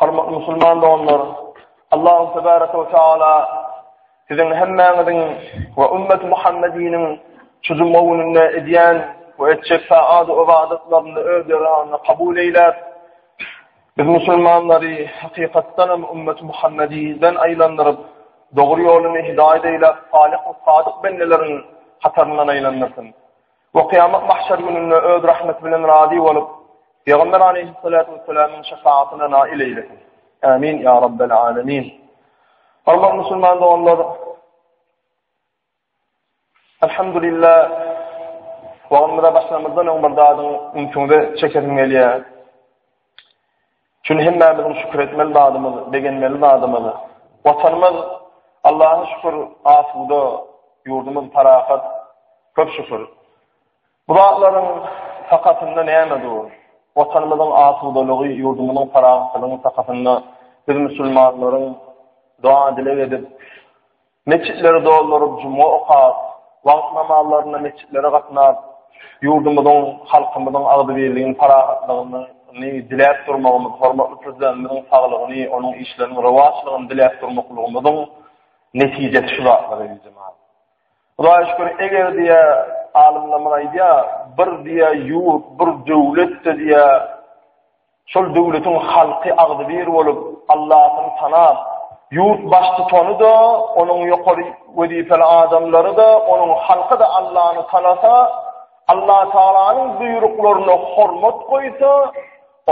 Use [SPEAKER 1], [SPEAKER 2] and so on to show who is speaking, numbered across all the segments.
[SPEAKER 1] Hormatly musulman doganlar, Allahu tebaraka we taala siziň hemmäňiziň we ümmet Muhammediniň çyzma gününde edýän we etjek saat ibadatlaryny öz ýaragyna kabul eýläp, biz musulmanlary hakykatdan hem ümmet Muhammediden aýlandyryp, dogry ýoluny hidaýat eýläp, salyh we sadyk bendeleriň hataryndan aýlandyrsyn. Bu kyýamat mahşer gününde öz rahmeti bilen razy bolup, Pygamber aleýhissalatu wessalamyň şefagatyna nail eýlesin. Amin ya rabbel alamin. Hormatly musulman doganlar, Alhamdulillah, wagtymyza başlamazdan öň bir zadyň ünsüňize çekesim gelýär. Çünki hemmämiziň şükür etmeli zadymyz, begenmeli zadymyz Watanymyz, Allaha şükür, asuda, ýurdumyz parahat, köp şükür. Bu zatlaryň sakasynda näme dur? Watanymyzyň asudalygy, ýurdumyzyň parahatçylygyň sakasynda biz musulmanlaryň doga-dileg edip, Metjitleri dolduryp, juma okap, wagt namazlarynda metjitlere gatnap, ýurdumyzyň, halkymyzyň agzybirligini, parahatlygyny diläp durmagymyz, hormatly Prezidentimiziň saglygyny, onuň işleriniň rowaçlygyny diläp durmaklygymyzyň netijesi şu zatlar, eziz jemanyýet. Hudaýa şükür, eger diýe, alymlarymyz aýdýar, bir diýe ýurt, bir döwlet-de diýe, Şol döwletiň halky agzybir bolup, Allahyny tanap, ýurt baştutany-da, onuň ýokary wezipeli adamlary-da, onuň halky-da Allany tanasa, Allatagalanyň buýruklaryna hormat goýsa,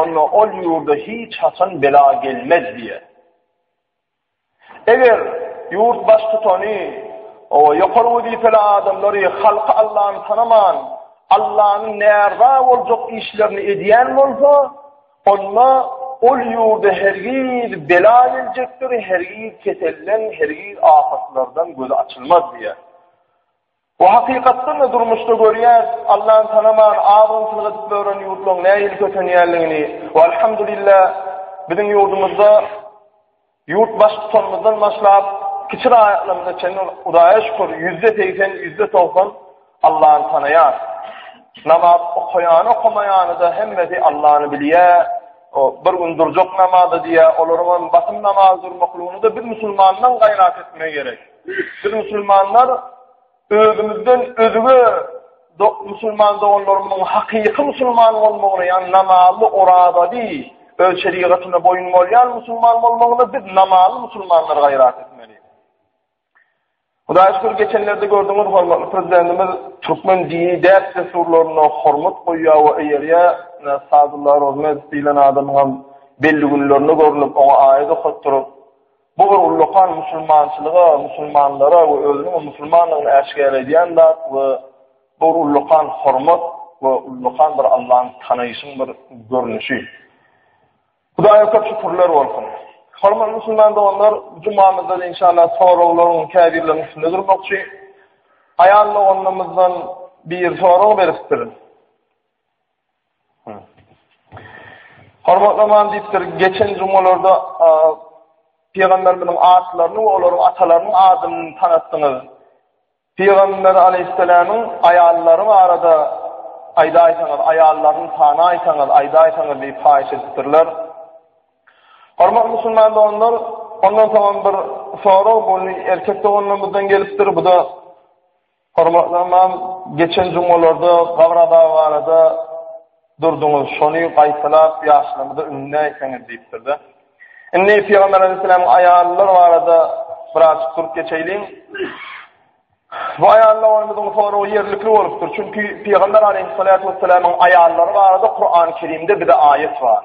[SPEAKER 1] onda ol ýurda hiç haçan bela gelmez diýýär. Eger ýurt baştutany we ýokary wezipeli adamlary halky Allany tanaman, Allanyň närza boljak işlerini edýän bolsa, onda ol ýurda hergiz bela geljekdir, hergiz keselden, hergiz afatlardan gözi açylmaz diýýär. Bu hakykatdan-da durmuşda görýäs, Allany tanaman, az-ozynçylyk edip ýören ýurtlaryň nähili kösenýändigini. We alhamdulillah, biziň ýurdumyzda ýurt Baştutanymyzdan başlap, kiçi raýatlarymyza çenli, Hudaýa şükür, ýüzde segsen, ýüzde togsan Allany tanaýar. Namaz okaýany-okamaýany-da hemmesi Allany bilýär. O, bir gün durjak namaza diýýär, olaryň hem basym namaza durmaklygyny-da biz musulmandan gaýrat etmek gerek. Biz musulmanlar özümizden özüge musulman doganlarymyzyň hakyky musulman bolmagyny, ýagny namazly, orazaly, öz şerigatyna boýun bolýan musulman bolmagyny biz namazly musulmanlar gaýrat etmeli. Hudaýa şükür, geçenlerde gördüňiz, hormatly prezidentimiz türkmen dini däp-dessurlaryna hormat goýýar we eýerýär. Sadullah Rozmet diýlen adamyň hem belli günlerinde görnüp, oňa aýat okatdyryp, Bu bir ullakan musulmançylyga, musulmanlara we özüniň musulmandygyny äşgär edýän zat we bu bir ullakan hormat we ullakan bir Allany tanaýşyň bir görnüşi. Hudaýa köp şükürler bolsun. Hormatly musulman doganlar, jumamyzda inşallah soraglaryň käbirleriniň üstünde durmakçy. Aýal doganymyzdan bir sorag beripdir. Hormatly Ymam diýipdir, geçen jumalarda pygamberimiziň atlaryny we olaryň atalarynyň adyny tanatdyňyz. Pygamber aleýhissalamyň aýallary barada aýdaýsaňyz, aýallaryny tanaýsaňyz, aýdaýsaňyz diýip haýyş edipdirler. Hormatly musulman doganlar, ondan soňam bir sorag bu erkek doganlarymyzdan gelipdir, bu-da Hormatly ymam, geçen jumgalarda gabyr azaby barada durduňyz, şony gaýtalap ýaşlarymyza ündeneýseňiz diýipdir-de. Indi Pygamber aleýhyssalamyň aýallar barada biraz durup geçeýliň. Bu aýallar barada soragy ýerlikli bolupdyr, çünki Pygamber aleýhyssalatu wessalamyň aýallary barada Kuran-Kerimde bize aýat bar.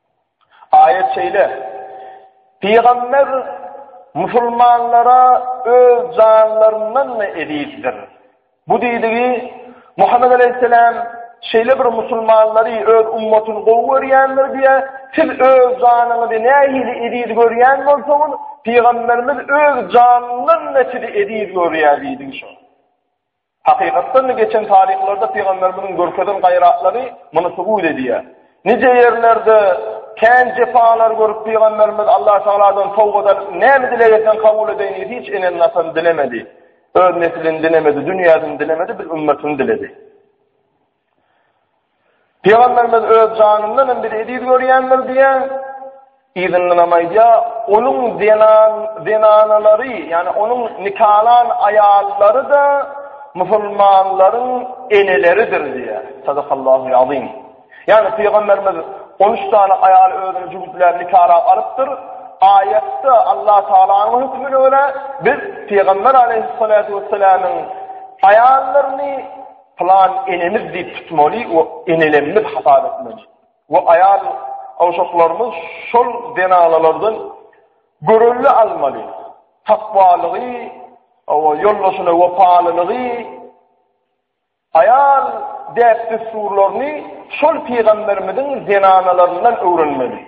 [SPEAKER 1] Aýat şeýle, Pygamber musulmanlara öz janlaryndan-da ezizdir. Bu diýdigi, Muhammet aleýhissalam şeýle bir musulmanlary öz ummatyny gowy görýändir diýe, siz öz janyňyzy nähili eziz görýän bolsaňyz, Pygamberimiz öz janyndan-da sizi eziz görýär diýdigi şo. Hakykatdan-da, geçen taryhlarda pygamberimiziň görkezen gaýratlary muny subut edýär. Nije ýerlerde kän jepalar görüp, pygamberimiz Allah Tagaladan towbada näme dileg etseň kabul edeýin diýip, hiç ene-nasyny dilemedi. Öz neslini dilemedi, dünýäsini dilemedi, biz ümmetini diledi. Pygamberimiz öz janyndan hem bizi eziz görýändir diýýär. Yzyndanam aýdýar, onuň zenan zenanalary, ýagny onuň nikalan aýallary-da musulmanlaryň eneleridir diýýär. Sadakallahu azim. Ýagny pygamberimiz 13 sany aýaly özüne jübütläp nikalap alypdyr. Aýatda Allah Taalanyň hökmüne görä biz pygamber aleýhissalatu wessalamyň aýallaryny Plan enemiz diýip tutmaly we enelemmiz hasap etmeli. We aýal gowşaklarymyz şol zenanalardan görelde almaly. Takwalygy, owa ýoldaşyna wepalylygy, aýal däp-dessurlaryny şol pygamberimiziň zenanalaryndan öwrenmeli.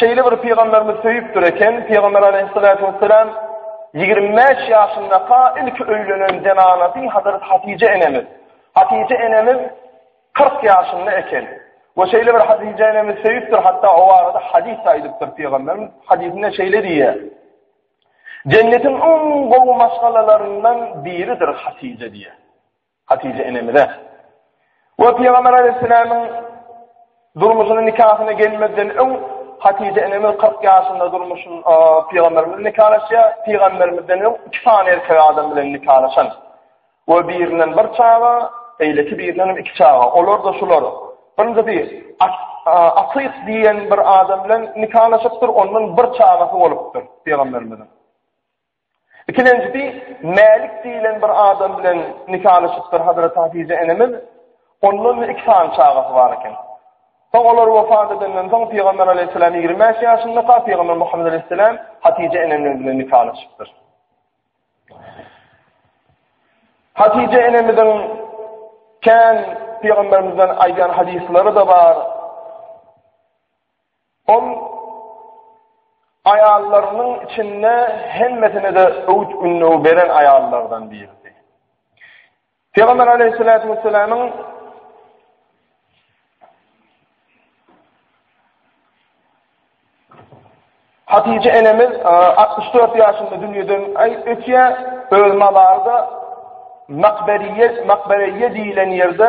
[SPEAKER 1] Şeýle bir pygamberimiz söýüpdir eken, pygamber aleýhissalatu wessalam ýigrimi bäş ýaşyndaka ilki öýlenen zenanasy Hazrat Hatije enemiz. Hatije enemiz kyrk ýaşynda eken. We şeýle bir Hatije enemiz söýüpdir, hatda o barada hadis aýdypdyr pygamberimiz. Hadisinde şeýle diýýär. Jennetiň iň gowy maşgalalaryndan biridir Hatije diýýär. Hatyja enemize we Pygamber Aleýhisselämiň durmuşyna, nikahyna gelmezden öň Hatyja enemiz kyrk ýaşynda durmuşyn Pygamber bilen nikalaşýar. Pygamberimizden öň iki sany erkek adam bilen nikalaşan we birinden bir çaga, beýleki birinden hem iki çaga. Olar-da şular, birinjisi Atyk diýen bir adam bilen nikalaşypdyr, ondan bir çagasy bolupdyr Pygamberimiziň. Ikilenjisi, Mälik diýlen bir adam bilen nikalaşypdyr Hazreti Hatyja enemiz. Ondan-da iki sany çagasy bar eken. Soň olar wepat edenden soň Pygamber alaýhyssalam ýigrimi bäş ýaşyndaka Pygamber Muhammet alaýhyssalam Hatyja enemiz bilen nikalaşypdyr. Hatyja enemiziň kän Pygamberimizden aýdan hadyslary-da bar. Ol aýallarynyň içinde hemmesine-de öwüt-ündew beren aýallardan biridi. Pygamber Aleýhissalatu wessalamyň Hatije enemiz 64 ýaşynda dünýeden aý ötýä, öz mazary da Makberiýe, Makberiýe diýilen ýerde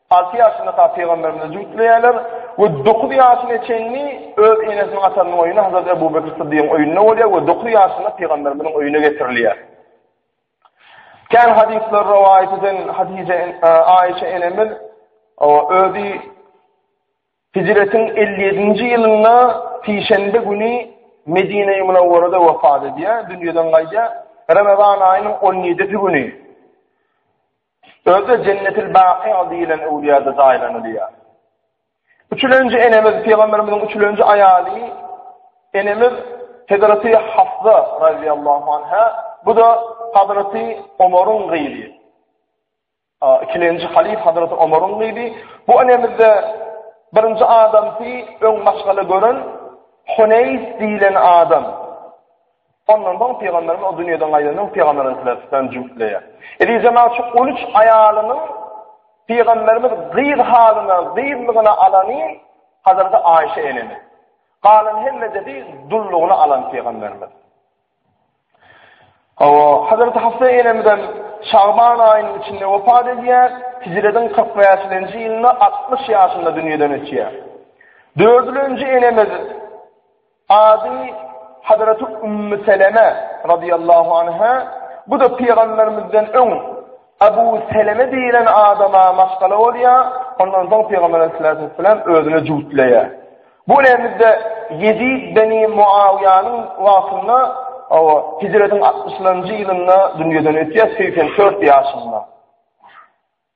[SPEAKER 1] Alty ýaşynda ta pygamberimize jübütleýärler we dokuz ýaşyna çenli öz enesiniň atarynyň öýünde Hazrat Ebu Bekr Syddygyň öýünde bolýar we dokuz ýaşynda pygamberimiziň öýüne getirilýär. Kän hadyslar rowaýat eden Hadije Aişe enemiz özi Hijretiň elli ýedinji ýylynda sişenbe güni Medine-i Munawwarada wepat edýär, dünýeden gaýdýar. Ramazan aýynyň on ýedisi güni Özi-de Jennetil-Baky diýlen öwlüýäde jaýlanylýar. Üçülenji enemiz, pygamberimiziň üçülenji aýaly enemiz Hezreti Hafsa raziýallahu anha, bu-da Hazreti Omaryň gyzy. Ikilenji halyf Hazreti Omaryň gyzy. Bu enemizde birinji adamsy öň maşgala gören Huneýs diýlen adam. Ondan soň Pygamberimiz o dünýeden gaýdandan soň Pygamberimiz bilen tutan jübütleýär. Hedije magşuk on üç aýalynyň Pygamberimiz gyz halyna, gyzlygyna alany Hazreti Aýşe enemiz. Galan hemmejesi dullugyna alan Pygamberimiz. Hawa, Hazreti Hafsa enemizem Şaban aýynyň içinde wepat edýär. Hijrediň kyrk bäşinji ýylynda altmyş ýaşynda dünýeden ötýär. Dördülenji enemiz Ady Hazraty Ummu Seleme radiyallahu anha, bu-da Pygamberimizden öň Abu Seleme diýilen adama maşgala bolýar, ondan soň Pygamber aleyhissalatu vesselam özüne jübütleýär. Bu nädip-de Ýezid beni Muawyýanyň wagtynda, hawa, hijretiň altmyşynjy ýylynda dünýeden ötýär, segsen dört ýaşynda.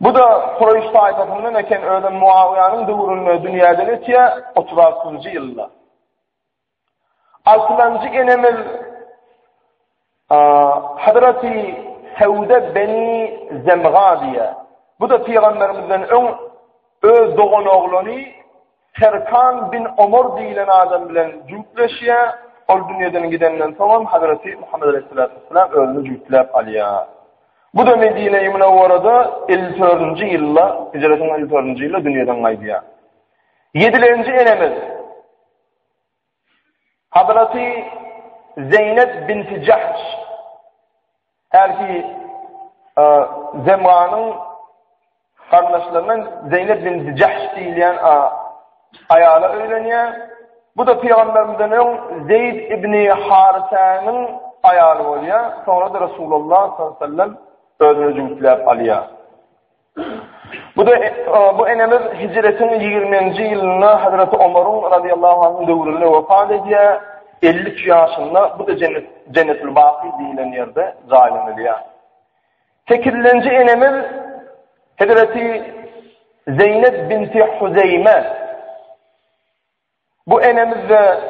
[SPEAKER 1] Bu-da Kureýş taýpasyndan eken, özem Muawyýanyň döwründe dünýäden ötýär, otuz altynjy ýylda. Altynjy enemiz Hazreti Sewde beni Zemga diýýär. Bu-da pygamberimizden öň öz doganoglany Serkan bin Omar diýilen adam bilen jübtleşýär, ol dünýeden gidenden soňam Hazreti Muhammet aleýhissalatu wessalam özüni jübtläp alýar. Bu-da Medine-i Münewwerede elli dördünji ýylda, hijretiň elli dördünji ýylda dünýeden gaýdýar. Ýedilenji enemiz. Hazraty Zeýnep binti Jahş, hälki Zemranyň garyndaşlaryndan Zeýnep binti Jahş diýilýän aýala öýlenýär. Bu da Pygamberimizden öň Zeýd ibn Harisäniň aýaly bolýar. Soňra-da Resulullah sallallahu aleyhi ve sellem özüne jübütläp alýar. Bu-da bu enemiz hijretiň ýigriminji ýylynda Hazreti Omaryň radiyallahu anh döwründe wepat edýär. Elli üç ýaşynda bu-da jennet jennetül baky diýilen ýerde jaýlanylýar. Sekizinji enemiz Hazreti Zeýnep binti Huzeýme Bu enemizde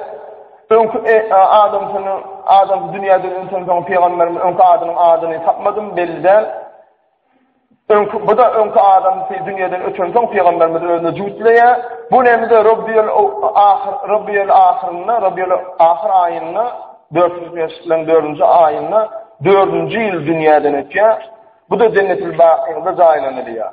[SPEAKER 1] öňki adamsyny adam dünýäden öňten soň pygamberimiz öňki adynyň adyny tapmadym belli däl. Öňki bu da öňki adamsy dünýäden öten soň pygamberimiz özüne jüwtleýä. Bu enemizde Rabbiyul ahyr Rabbiyul ahyrynda Rabbiyul ahyr aýynda 405 bilen 4-nji aýynda 4-nji ýyl dünýäden ötýär. Bu da jennetil bakyda jaýlanylýar.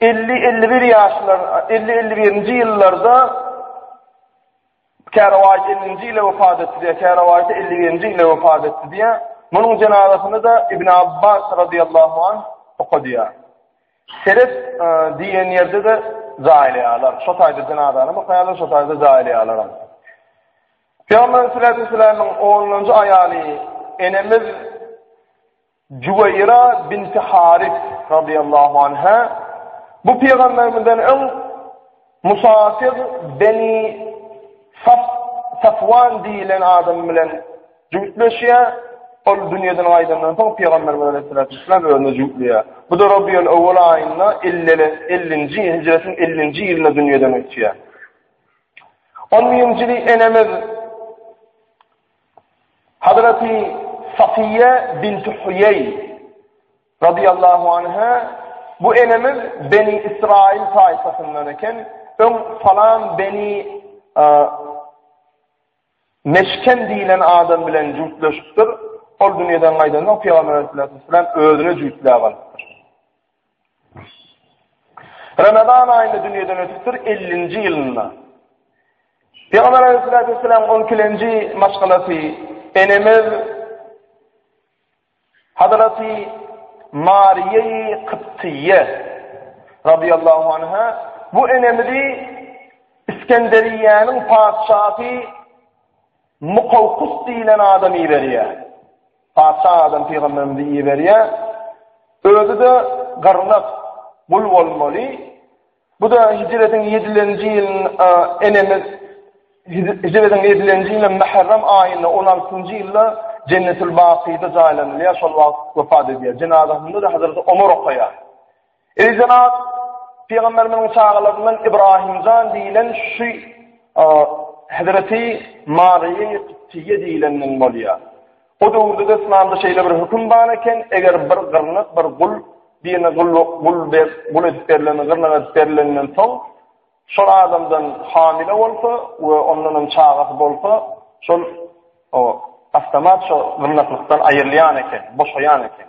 [SPEAKER 1] Elli-elli bir ýaşlar, elli-elli birinji ýyllarda Kärawaýys ellinji ýyla wepat etdi diýýär, Kärawaýys elli birinji ýyla wepat etdi diýýär. Munuň jenazasyny-da Ibn Abbas radyýallahu anh okadýar. Seret diýen ýerde-de jaýlaýarlar. Şo taýda jenazany okaýarlar, şo taýda jaýlaýarlaram. Pygamberimiz sallallahu aleyhi ve sellem'in onuncu aýaly enemiz Juweýra binti Haris, radyýallahu anha, Bu pygamberimizden öň musafir Beni Saf Safwan diýilen adam bilen jübütleşýär. Ol dünýäden gaýdandan soň pygamberimiz aleyhissalatu vesselam özüne jübütleýär. Bu da Rabiul Awwal aýynda 50-nji hijretiň 50-nji ýylynda dünýäden ötýär. 10-njy ýyl enemiz Hazraty Safiýýe binti Huýeý, radyýallahu anha, Bu enemiz Beni Ysraýyl taýpasyndan eken, öň falan Beni Meşkem diýlen adam bilen jübtleşipdir, ol dünýeden gaýdansoň, Pygamber aleyhissalatu vesselam özüne jübtläp alypdyr. Ramazan aýynda dünýeden ötüpdir 50-nji ýylynda. Peygamber aleyhissalatu vesselam 12-nji maşgalasy enemiz Hazreti Mariýeyi Kyptiýe radiyallahu anha bu enemizi İskenderiýäniň patyşasy Mukawkys diýlen adam iberýär. Patyşa adam pygamberimizi iberýär. Özi-de gyrnak, gul bolmaly. Bu-da hijretiň ýedilenji ýylynda enemiz hijretiň ýedilenji ýyly mährem aýynda on altynjy ýylda Jennetül-Bakyda jaýlanylýar, şol wagt wepat edýär. Jenazasynda-da Hazreti Omar okaýar. Eý jenap, pygamberimiziň çagalaryndan Ibrahim jan diýilen şu Hezreti Maryýa Tiýe diýilenden bolýar. O döwürde de Islamda şeýle bir höküm bar eken, eger bir gyrnak, bir gul, birine gul, gul ber, gul edip berilenden, gyrnak edip berilenden soň, şol adamdan hamile bolsa we ondan hem çagasy bolsa, şol o avtomat şo gyrnaklykdan aýrylýan eken, boşaýan eken.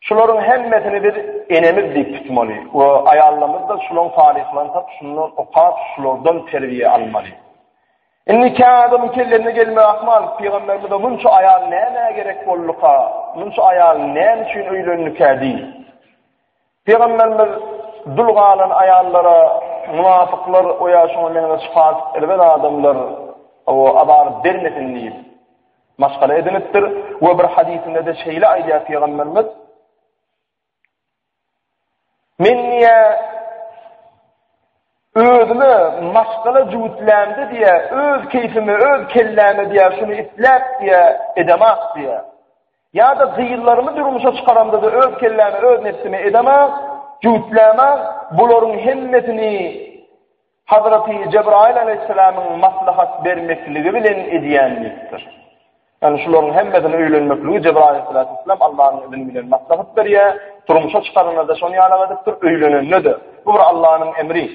[SPEAKER 1] Şularyň hemmesini biz enemiz diýip tutmaly we aýallarymyzda şulaň talyhlaryny tapyp, şundan okap, şulardan terbiýe almaly. Indiki adamyň kellesine gelmegi ahmal, pygamberimize munça aýal nämä gerek bolduka, munça aýal näme üçin öýlendikä diý. Pygamberimiz dul galan aýallara munafyklar we ýa şuňa meňzeş fasik erbet adamlar o azar bermesin diýip, Maşgala edinipdir we bir hadysynda-da şeýle aýdýar Pygamberimiz, Men niýe özüme maşgala jüwütlämde diýe, öz keýfime, öz kelläme diýe, şuny isläp diýe, edemak diýe. Ýa-da gyzlarymy durmuşa çykaramda-da öz kelläme, öz nefsime edemak, jüwütläme, bularyň hemmesini Hazraty Jebraýyl alaýhyssalamyň maslahat bermekligi bilen edýän diýipdir. Ýagny şularyň hemmesini öýlenmekligi Jebraýyl alaýhyssalatu wessalam Allanyň izni bilen maslahat berýär. Durmuşa çykaranda-da şony ýaly edipdir, öýlenende-de. Bu bir Allanyň emri.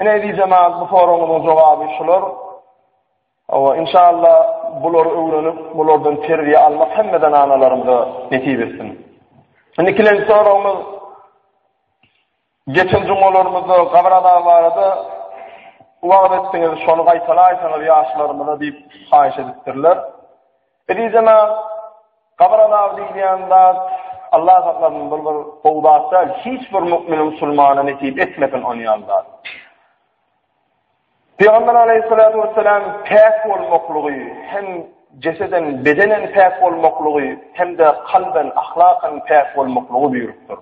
[SPEAKER 1] Ine eziz jemagat bu soragyňyzyň jogaby şular. Hawa, inşallah bulary öwrenip, bulardan terbiýe almak hemme zananalarymyza nesip etsin. Indi ikinji soragyňyz Geçen jumgalarymyzda Gabaradag barada wagyz etdiňiz, şony gaýtalaýsaňyz ýaşlarymyza diýip haýyş edipdirler. Eziz jenap, Gabaradag diýilýän zat, Allah saklasyn, bul bir gowy zat däl, hiç bir mukmine-musulmana nesip etmesin onýan zat. Pygamber aleýhissalatu wessalam päk bolmaklygy hem jeseden bedenen päk bolmaklygy hem-de kalben ahlakan päk bolmaklygy buýrupdyr.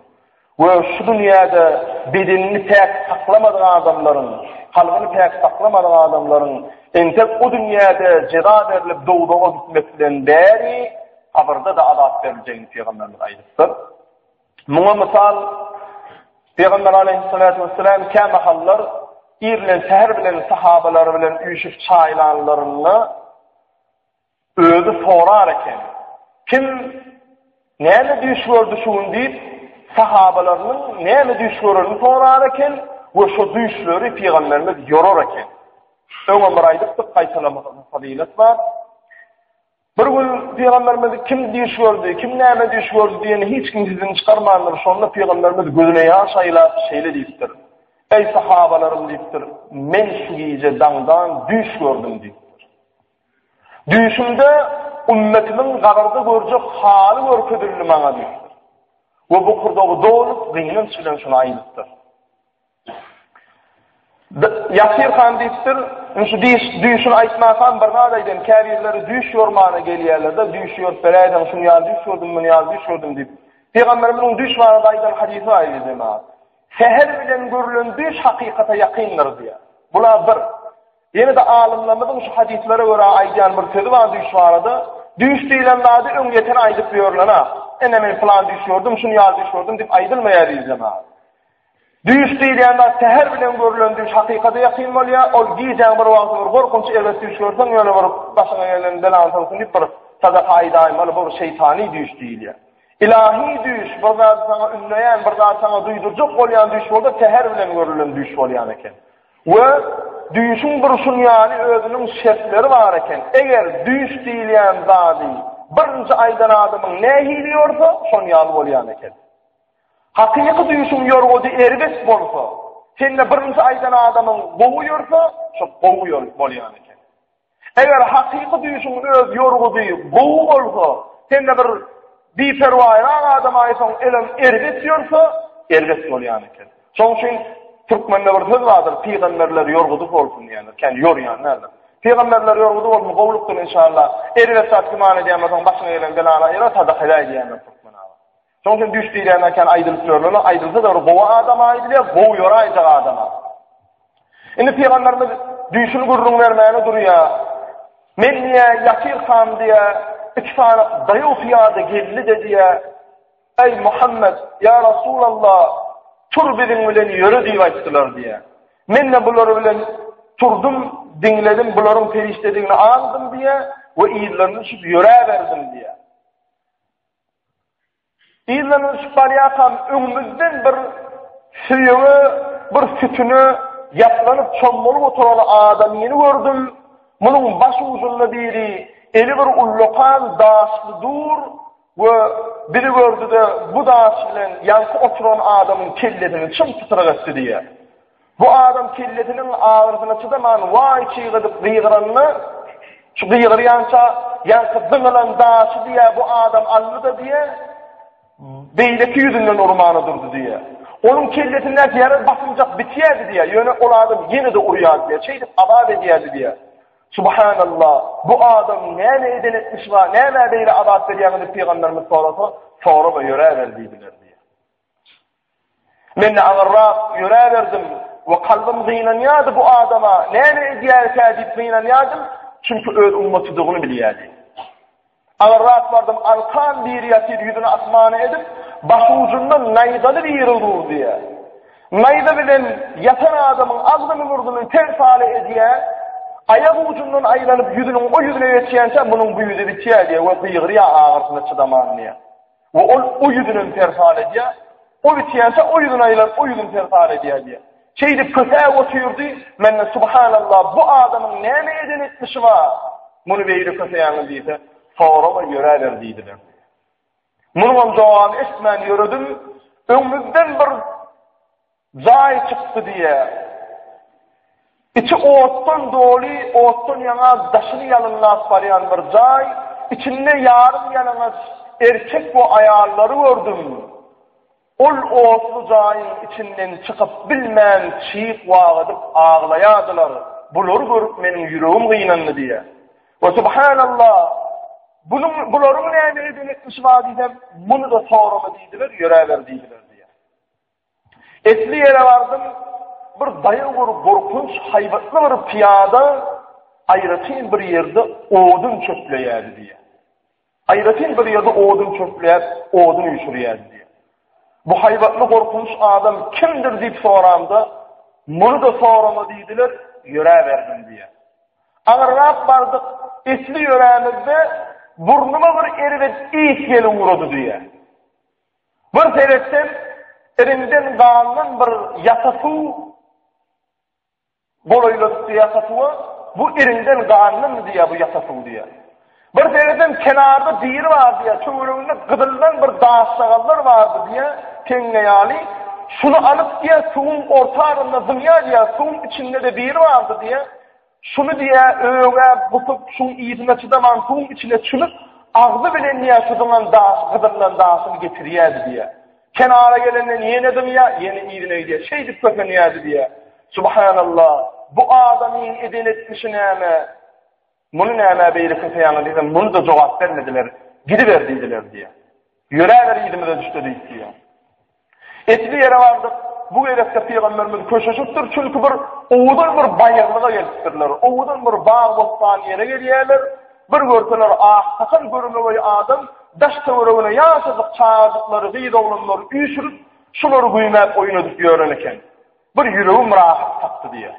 [SPEAKER 1] We şu dünýäde bedenini päk saklamadyk adamlaryň, kalbyny päk saklamadyk adamlaryň entek bu dünýäde jeza berlip dowzaha gitmek bilen bäri kabyrda-da azap beriljegini pygamberimiz aýdypdyr. Muňa mysal, Pygamber aleýhissalatu wesselam kämahallar ir bilen säher bilen sahabalary bilen üýşüp çaý ilanlarynda özi sorar eken. Kim näme düýş gördi şu gün diýip, sahabalarynyň näme düýş görenini sorar eken we şu düýşleri pygamberimiz ýorar eken. Öňe bir aýdypdyk, gaýtalamagyň fazylat bar. Bir gün Pygamberimiz kim düýş gördi, kim näme düýş gördi diýeni hiç kim sizden çykarmandyr. Şonda Pygamberimiz gözüne ýaş aýlap şeýle diýipdir. Eý sahabalarym diýipdir, men şu gije daňdan düýş gördüm diýipdir. Düýşümde ümmetimiň gabarda görjek haly görkezildi maňa diýipdir. We bu kurdagy dolup, gynanç bilen şunu aýdypdyr. Ýasir han diýipdir, indi şu diýiş, düýşüni aýtmasam bir zat aýdaýyn, käbirleri düýş ýormana gelýärler-de, düýşi ýorup beräýseň, şuny ýaly düýş gördüm, muny ýaly düýş gördüm diýip. Pygamberimiziň düýş barada aýdan hadysy bar idi jemagat. Säher bilen görülen düýş hakykata ýakyndyr diýýär. Bula bir. Ýene-de alymlarymyzyň şu hadyslara görä aýdýan bir sözi bar düýş barada, düýş diýlen zady öň ýeten aýdyp ýörülen-ä. Ene men pylan düýş gördüm, şuny ýaly düýş gördüm diýip aýdylmaýar jemagat. Düýş diýilýän zat säher bilen görülen düýş hakykada ýakyn bolýar, ol gijäň bir wagty bir gorkunç erbet düýş görseň ýöne bir başyňa gelen belany soň sünip bir sadaka aýdaýmaly bu bir şeýtany düýş diýilýär. Ylahy düýş bir zady saňa ünleýän bir zady saňa duýdurjak bolýan düýş bolsa säher bilen görülen düýş bolýan eken. We düýşüň durşun ýaly özüniň şertleri bar eken. Eger düýş diýilýän zady birinji aýdan adamyň nähili ýorsa şon ýaly bolýan eken. Hakyky düýşüň ýorgudy erbet bolsa, sende birinji aýdan adamyň gowy ýörse, şo gowy ýör bolýan eken. Eger hakyky düýşüň öz ýorgudy gowy bolsa, sende bir biperwaýrak adam aýsaň, elem erbet ýörse, erbet bolýan eken. Şoň üçin türkmende bir söz bardyr, pygamberler ýorgudy bolsun diýýärler, kän ýorýan näme? Pygamberler ýorgudy bolsun, gowulykdyr inşallah. Erbet zat güman edýän bolsaň, başyňa gelen belany aýra, sadaka edäý diýýärler türkmen aga. Şoň üçin düýş diýlende kän aýdylyp ýörler, aýdylsa-da bir gowy adama aýdylýar, gowy ýöre aýjak adama. Indi pygamberimiz düýşüni gürrüň bermäne durýar. Men diýä ýatyr han diýä, iki sany daýaw pyýada geldi de diýä. Eý Muhammed, ýa Resulallah, tur biziň bilen ýöre diýip aýtdylar diýä. Men de bular bilen turdum, diňledim, bularyň perişdedigini aňdym diýä we ýerlerini düşüp ýöräberdim diýä. Ýyllaryň ötüşip barýarkam öňümizden bir söýege, bir sütüne ýaplanyp çommalyp oturan adamyny gördüm. Munuň baş ujunda biri eli bir ullakan daşly dur we biri gördi-de bu daş bilen ýaňky oturan adamyň kellesini çym-çytryk etdi diýýär. Bu adam kellesiniň agyrysyna çydaman waý çygydyp gygyranda, şu gygyrýança ýaňky zyňylan daşy diýýär, bu adam aldy-da diýýär, beýleki ýüzünden urmana durdy diýýär. Onuň kellesindäki ýara basymjak bitýärdi diýýär, ýöne ol adam ýene-de urýardy diýýär, şeýdip azap edýärdi diýýär. Subhanallah, bu adam näme eden etmiş wah, nämä beýle azap berýäňiz diýip pygamberimiz sorasa, sorama ýöräber diýdiler diýýär. Men-de aňyrrak ýöräberdim we kalbym gynanýardy, bu adama näme edýäris-ä diýip gynanýardym, çünki öz ummatydygyny bilýärdi. Aňyrrak bardym, Alkan biri ýatyr, ýüzüni asmana edip, baş ujundan naýzaly biri durdy. Naýza bilen ýatan adamyň agzyny-burnuny ter-sale edýär, aýak ujundan aýlanyp ýüzüniň o ýüzüne geçýänçä munuň bu ýüzi bitýär we gygyrýar agyrsyna çydaman. We ol o ýüzünem serhan edýär. Ol içýänçä o ýüzüni aýlan o ýüzüni serhan edýär diýýär. Şeýdip kösäp otyrdy, mende subhanallah bu adamyň näme eden etmişi bar? Muny beýle köseýäňiz diýse, sorama ýöräber diýdiler. Munuňam jogabyny eşitmän ýöredim. Öňümizden bir Jaý çykdy diýýär. Içi otdan doly, otdan ýaňa daşyny ýalynlap barýan bir jaý, içinde ýarym ýalaňaç erkek we aýallary gördüm. Ol otly jaýyň içinden çykyp bilmän çyg wah edip aglaýardylar. Bulary görüp meniň ýüregim gynandy diýýär. We subhanallah, bunuň bularyň näme edip etmişi bar diýsem, muny-da sorama diýdiler, ýöräber diýdiler. Esli ýere bardym, bir daýaw bir gorkunç haýbatly bir pyýada aýratyn bir ýerde odun çöpleýärdi diýýär. Aýratyn bir ýerde odun çöpleýär, odun üýşürýärdi diýýär. Bu haýbatly gorkunç adam kimdir diýip soranda, muny da sorama diýdiler, ýöräberdim diýýär. Agyrrak bardyk, esli ýörämizde burnuma bir erbet iýs gelip urady diýýär. Bir seretseň, iriňden galnan bir ýata suw golaýlanypdy ýata suwa, bu iriňden galnanmy diýýär bu ýata suw diýýär. Bir seretseň, kenarda biri bar diýýär, töwereginde gyzyldan bir daşşagallar bardy diýýär, teňňe ýaly. Şuny alyp diýýär, suwuň orta arasynda zyňýar diýýär, suwuň içinde-de biri bardy diýýär. Şuny diýä, öňe gusup, şuň yzyna çydaman suwuň içine çümüp, agzy bilen diýä şu zyňan daş, gyzyllan daşyny getirýärdi diýä. Kenara gelenden ýene zyňýa, ýene yzyna gidýä. Şeýdip kösenýärdi diýä. Subhanalla, bu adamyň eden etmişi näme? Muny nämä beýle köseýäňiz diýsem, muny-da jogap bermediler. Gidiber diýdiler diýä. Ýöräber yzymyza düşde diýip diýä. Etli ýere bardyk. Bu gezekde pygamberimiz köşeşipdir, çünki bir owadan bir baýyrlyga gelipdirler. Owadan bir bag-bossan ýere gelýärler. Bir görseler, aksakal görmegeý adam daş-töweregine ýaşajyk çagajyklary, gyz oglanlary üýşürip, şulary güýmäp oýnadyp ýören eken. Bir ýüregim rahat tapdy diýýär.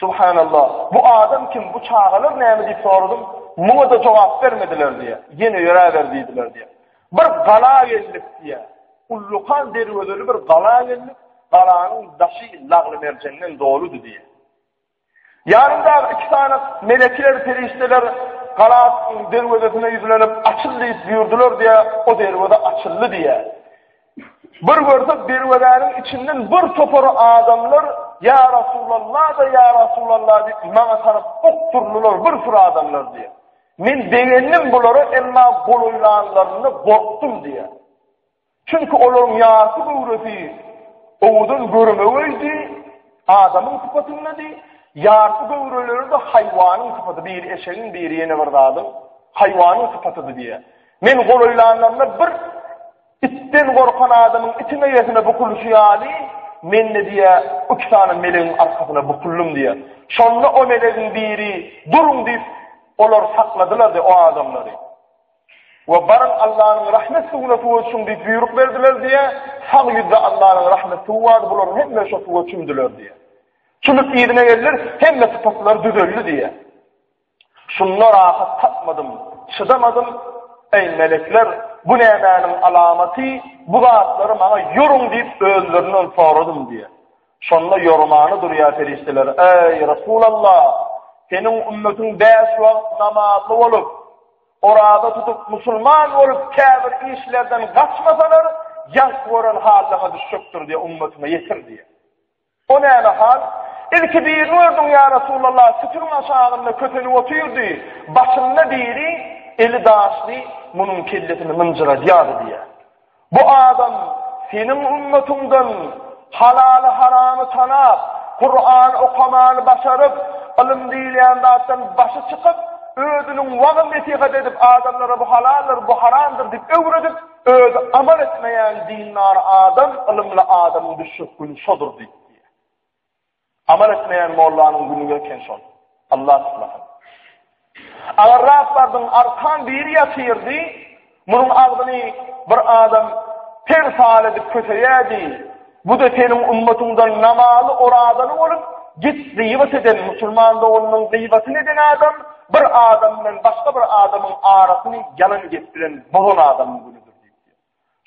[SPEAKER 1] Subhanallah! Bu adam kim, bu çagalar näme diýip soradym, muňa-da jogap bermediler diýýär. Ýene ýöräber diýdiler diýýär. Bir gala geldik diýýär. Ullakan derwezeli bir gala geldik, galanyň daşy lagly-merjenden doludy diýýär. Ýanymdaky iki sany melekiler, perişdeler galanyň derwezesine ýüzlenip, açyl diýip buýurdylar diýýär, o derweze açyldy diýýär. Bir görsek derwezäniň içinden bir topar adamlar ýa Rasulullah da ýa Rasulullah diýip maňa tarap okdurdylar bir sürü adamlar diýip. Men begendim bulara emma golaýlanlarynda gorkdum diýip. Çünki olaryň ýasy göwresi owudan görmegeydi, adamyň sypatynda diý. Ýasy göwreleri de haýwanyň sypaty, bir eşegiň, bir ýene bir zadyň haýwanyň sypatydy diýip. Men golaýlanlarynda bir Itden gorkan adamyň itiň eýesine bukulyşy ýaly, men-de diýýär, iki sany melegiň arkasyna bukuldym diýýär. Şonda o melegiň biri, Duruň! diýip, olar sakladylar-da o adamlary. We baryň Allanyň rahmet suwuna suwa çüň diýip buýruk berdiler diýýär. Sag ýüzde Allanyň rahmet suwy bardy, bularyň hemmesi şo suwa çümdüler diýýär. Çümüp yzyna geldiler, hemme sypatylary düzeldi diýýär. Şunda rahat tapmadym, çydamadym, Eý, melekler, bu nämäniň alamaty, bu zatlary maňa ýoruň diýip, özlerinden soradym diýýär. Şonda ýormany durýar perişdeler, Eý, Resulallah, seniň ümmetiň bäş wagt namazly bolup, oraza tutup, musulman bolup, käbir işlerden gaçmasalar, ýalk gören hallaryna düşjekdir diýip, ümmetine ýetir diýýär. O näme hal? Ilki birini gördüm, ýa Resulallah, sütüniň aşagynda kösenip otyrdy, başynda biri, eli daşly, munuň kellesini mynjyradýardy diýýär. Bu adam seniň ümmetyňdan halaly-haramy tanap, Kuran okamany başaryp, ylym diýilýän zatdan başy çykyp, özüniň wagyz-nesihat edip, adamlara bu halaldyr, bu haramdyr diýip öwredip, Özi amal etmeýän dindar adam ylymly adamyň düşjek güni şodur diýip diýýär. Amal etmeýän mollanyň güni eken şol. Allah tutmasyn. Agar Rabbardyň arkan biri ýatyrdy, munuň agzyny bir adam ter sal edip köseýärdi, Bu-da seniň ümmetyňdan namazy, orazaly bolup, git gybat eden musulman doganymyň gybatyny eden adam, bir adam bilen başga bir adamyň arasyny ýalan gep bilen bozan adamyň günüdir diýip.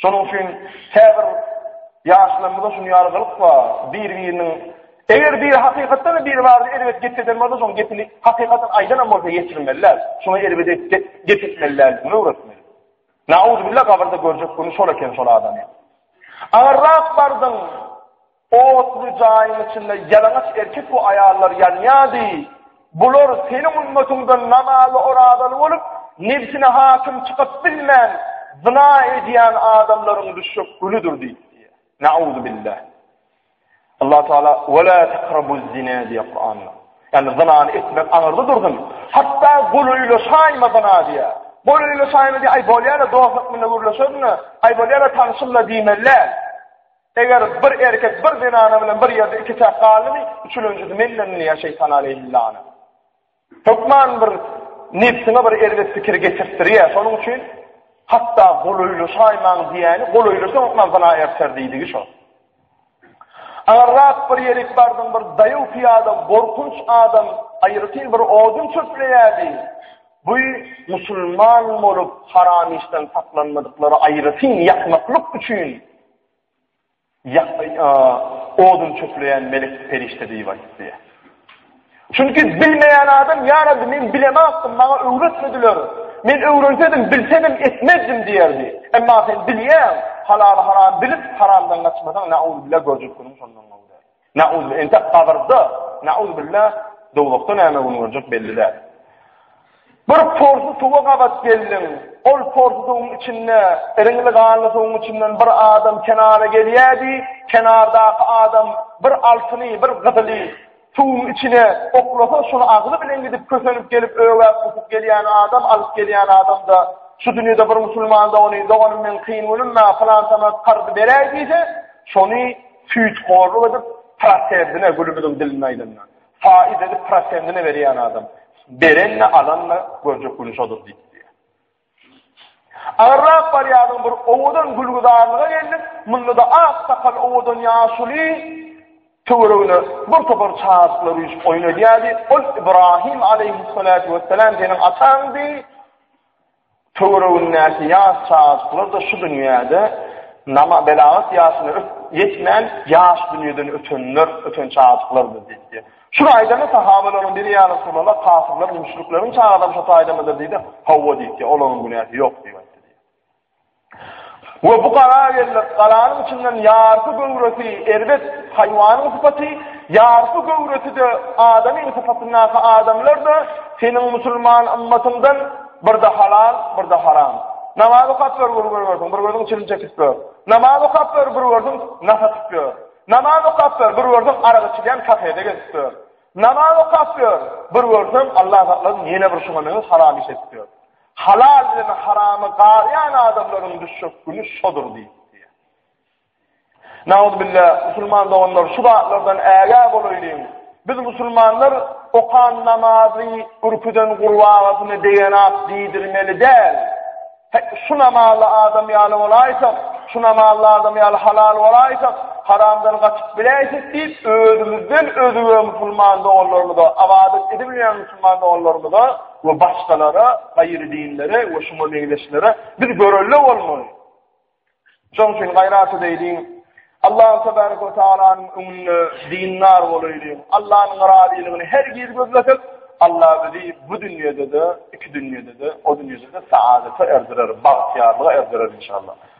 [SPEAKER 1] Şonuň üçin käbir ýaşlarymyzda şuny ýalgylyk bar, bir-biriniň Eger bir hakykatdan da bir barada erbet gep eden bolsa, şoň gepini hakykatdan aýdanam bolsa ýetirmeliler. Şoňa erbet gep etmeliler, öwretmeli. Nauzubilla gabyrda görjek güni şol eken şol adamyň. Agyrrak bardyň. Otly jaýyň içinde ýalaňaç erkek we aýallar ýanýady. Bular seniň ümmetyňden namazly orazaly bolup, nebsine hakim çykyp bilmän, zina edýän adamlaryň düşjek günüdir diýdi. Nauzubilla. Allah Taala we la takrabuz zina diýýär Kuranda. Ýani zynany etmek aňyrda dursun. Hatda golaýla şaýma zyna diýýär. Golaýla şaýma diýýär, aý bolýar-a dostluk bilen gürleşerin-a, aý bolýar-a tanşym-la diýmeli. Eger bir erkek bir zenana bilen bir ýerde iki täk galdymy, üçülenjisi menden diýýär Şeýtan aleýhillana. Hökman bir nebsiňe bir erbet pikir getirtdirýär. Şonuň üçin hatda golaýlaşaýmaň diýýäni, golaýlaşsaň hökman zyna erter diýdigi şo. Aňyrrak bir ýerik bardyň, bir daýaw pyýada gorkunç adam aýratyn bir odun çöpleýärdi. Bu musulman bolup haram işden saklanmadyklara aýratyn ýakmaklyk üçin Odun çöpleýän melek perişde diýip aýtdy. Çünki bilmeýän adam, Ýa Rabbi, men bilemokdym, maňa öwretmediler. Men öwrensedim, bilsedim, etmezdim diýerdi. Emma sen bilýäň, halaly-haramy bilip, haramdan gaçmasaň, nauzubilla, görjek günüň şondan gowy däl. Nauz entek gabyrda, nauz billa, dowlukda näme gün görjek belli däl. Bir porsu suwa gabat geldim. Ol porsu suwuň içinde, eriňli ganly suwuň içinden bir adam kenara gelýärdi. Kenardaky adam bir altyny, bir gyzyly suwuň içine oklasa, şunu agzy bilen gidip kösenip gelip ögäp tutup gelýän adam, alyp gelýän adam da şu dünýäde bir musulman dogany, doganym men kyn günüm, men falan sana karz beräýdi, şony Süýthorluk edip, prosendine, gülümiziň dilinde aýdanda, faiz edip prosendine berýän adam, beren-de, alan-da görjek güni şodur diýip. Agyrrak barýadyň bir owadan gülgüzarlyga geldik, munda-da ak sakal owadan ýaşuly töweregine bir topar çagyklar üýşüp oýun edýärdi. Ol Ibrahim aleýhissalatu wessalam seniň ataňdy. Töweregindäki ýaş çagajyklar-da şu dünýäde nama belagat ýaşyna ýetmän ýaş dünýeden ötenler, öten çagajyklardyr diýipdi. Şuny aýdanda sahabalaryň biri ýa Resulallah kafirler müşrikleriň çagadam şo taýdamydyr diýdi, hawa diýipdi, olaryň günäsi ýok diýipdi. We bu gala geldik. Galanyň içinden ýarpy göwresi erbet haýwanyň sypaty, ýarpy göwresi-de adamyň sypatyndaky adamlar-da seniň musulman ymmatyňdan bir-de halal, bir-de haram. Namaz okap ber, bir görersiň, bir görseň çilim çekip ýör. Namaz okap ber, bir görseň nah atyp ýör. Namaz okap ber, bir görseň arak içilýän kafede gezip ýör. Namaz okap ber, bir görseň Allah saklasyn ýene bir şuňa meňzeş haram iş edip ýör. Halal bilen haramy garýan adamlaryň düşjek güni şodur diýip. Naudbilla, musulman doganlar, şu zatlardan ägä bolaýlyň. Biz musulmanlar okan namazy ürküden gurbagyny degenap diýdirmeli däl. Şu namazly adam ýaly bolaýsak, şu namazly adam ýaly halal bolaýsak, haramdan gaçyp biläýsek diýip, özümizden özüge musulman doganlarymyza, abadyk edip bilen musulman doganlarymyza we başgalara, gaýry dinlere we şuňa meňzeşlere biz görelde bolmaly. Şoň üçin gaýraty beýdiň. Allah tebaraka we taalanyň öňünde dindar bolaýlyň. Allahnyň razylygyny her giz gözledik. Allah bizi bu dünýäde-de, iki dünýäde-de, o dünýäde-de saadata erdirer, bagtyýarlyga erdirer inşallah.